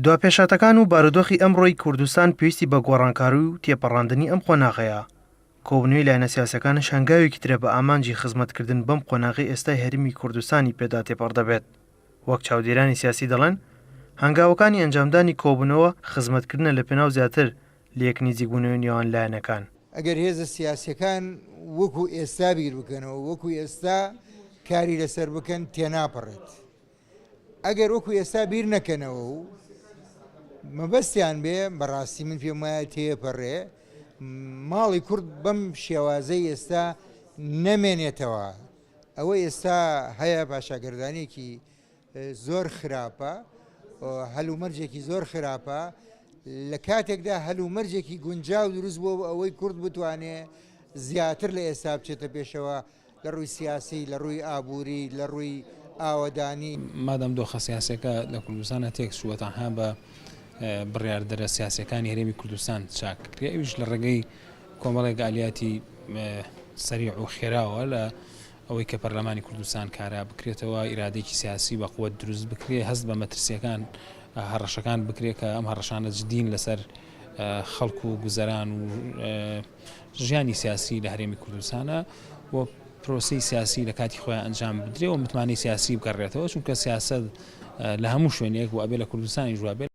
دوا پێشهاتەکان و بارودۆخی ئەمڕۆی کوردستان پێویستی بە گۆڕانکاروی و تێپەڕاندنی ئەم قۆناغەیە. کۆبنەوی لایەنە سیاسەکانش هەنگاوێکی ترە بە ئامانجی خزمەتکردن بەم قۆناغەی ئێستای هەرمی کوردستانی پێدا تێپەڕ دەبێت. وەک چاودێرانی سیاسی دەڵێن، هەنگاوەکانی ئەنجامدانی کۆبنەوە خزمەتکردنە لە پێناو زیاتر لێک نیزیک بونەوەی نێوان لایەنەکان. ئەگەر هێزە سیاسیەکان وەکو ئێستا بیر بکەنەوە و وەکو ئێستا کاری لەسەر بکەن تێناپەڕێت. ئەگەر وەکو ئێستا بیر نەکەنەوە و مەبەستیان بێ بەڕاستی من پێم وایە تێپەڕێ ماڵی کورد بەم شێوازەی ئێستا نەمێنێتەوە ئەوە ئێستا هەیە پاشاگەردانێکی زۆر خراپە هەلومەرجێکی زۆر خراپە لە کاتێکدا هەلومەرجێکی گونجاو دروست بۆ ئەوەی کورد بتوانێ زیاتر لە ئێستا بچێتە پێشەوە لە ڕووی سیاسی، لە ڕووی ئابووری، لە ڕووی ئاوەدانی. مادام دۆخە سیاسیەکە لە کوردستانا تێک چووە تەنها بە بڕیاردەرە سیاسیەکانی هەرێمی کوردستان چاک کرێ ئەویش لە ڕێگەی کۆمەڵێک ئالیاتی سەریع و خێراوە لە ئەوەی کە پەرلەمانی کوردستان کارا بکرێتەوە ئیرادێکی سیاسی بە قوت دروست بکرێ هەست بە مەترسیەکان هەڕەشەکان بکرێت کە ئەم هەڕەشانە جدین لەسەر خەڵکو و گوزەران و ژیانی سیاسی لە هەرێمی کوردستانە و پرۆسی سیاسی لە کاتی خۆیان ئەنجام بدرێ و متمانەی سیاسی بگەڕێتەوە چونکە سیاست لە هەموو شوێنێک و ئەبێ لە کوردستانی جوابێت.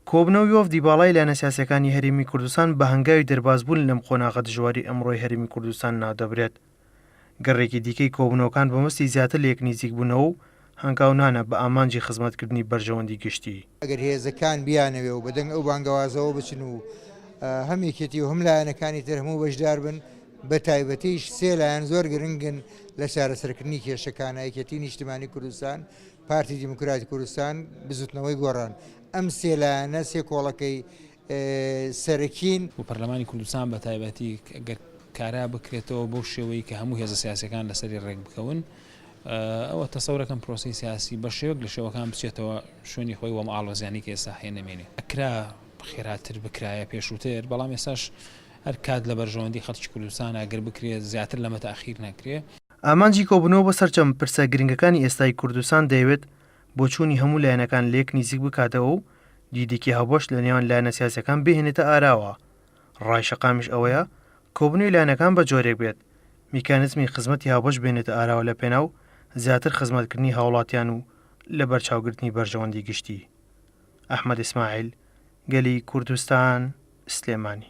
کۆبوونەوەی وەفدی باڵای لایەنە سیاسییەکانی هەرێمی کوردستان بە هەنگاوی دەربازبوون لەم قۆناغە دژواری ئەمڕۆی هەرێمی کوردستان ناودەبرێت. گەڕێکی دیکەی کۆبوونەوەکان بە مەبەستی زیاتر لە یەک نزیک بوونەوە و هەنگاونانە بە ئامانجی خزمەتکردنی بەرژەوەندی گشتی. ئەگەر هێزەکان بیانەوێ و بە دەنگ ئەو بانگەوازەوە بچن و هەم یەکێتی و هەم لایەنەکانی تر هەموو بەشدار بن، بە تایبەتیش سێ لایەن زۆر گرنگن لە چارەسەرکردنی کێشەکانە، یەکێتی نیشتمانی کوردستان، پارتی دیموکراتی کوردستان، بزوتنەوەی گۆڕان. ئەم سێ لایەنە سێ کۆڵەکەی سەرەکین. و پەرلەمانی کوردستان بە تایبەتی گەر کارا بکرێتەوە بەو شێوەی کە هەموو هێزە سیاسیەکان لەسەری ڕێک بکەون ئەوە تەسەورەکەم پرۆسەی سیاسی بە شێوەک لە شێوەکان بچێتەوە شوێنی خۆی وەم ئاڵۆزیانی کە ئێستا هەیە نەمێنێ ئەکرا خێراتر بکرایە پێشووتر بەڵام ئێساش هەر کات لە بەرژەوەندی خەڵکی کوردستان ئەگەر بکرێت زیاتر لەمە تاخیر نەکرێ. ئامانجی کۆبوونەوە بۆ سەرجەم پرسە گرنگەکانی ئێستای کوردستان دەیەوێت بۆچوونی هەموو لایەنەکان لێک نیزیک بکاتەوە و دیدێکی هاوبەش لە نێوان لایەنە سیاسیەکان بهێنێتە ئاراوە. ڕای شەقامیش ئەوەیە کۆبوونەوی لایەنەکان بە جۆرێک بێت میکانیزمی خزمەتی هاوبەش بێنێتە ئاراوە لە پێناو زیاتر خزمەتکردنی هاوڵاتیان و لە بەرچاوگرتنی بەرژەوەندی گشتی. ئەحمەد ئیسماعیل، گەلی کوردستان، سلێمانی.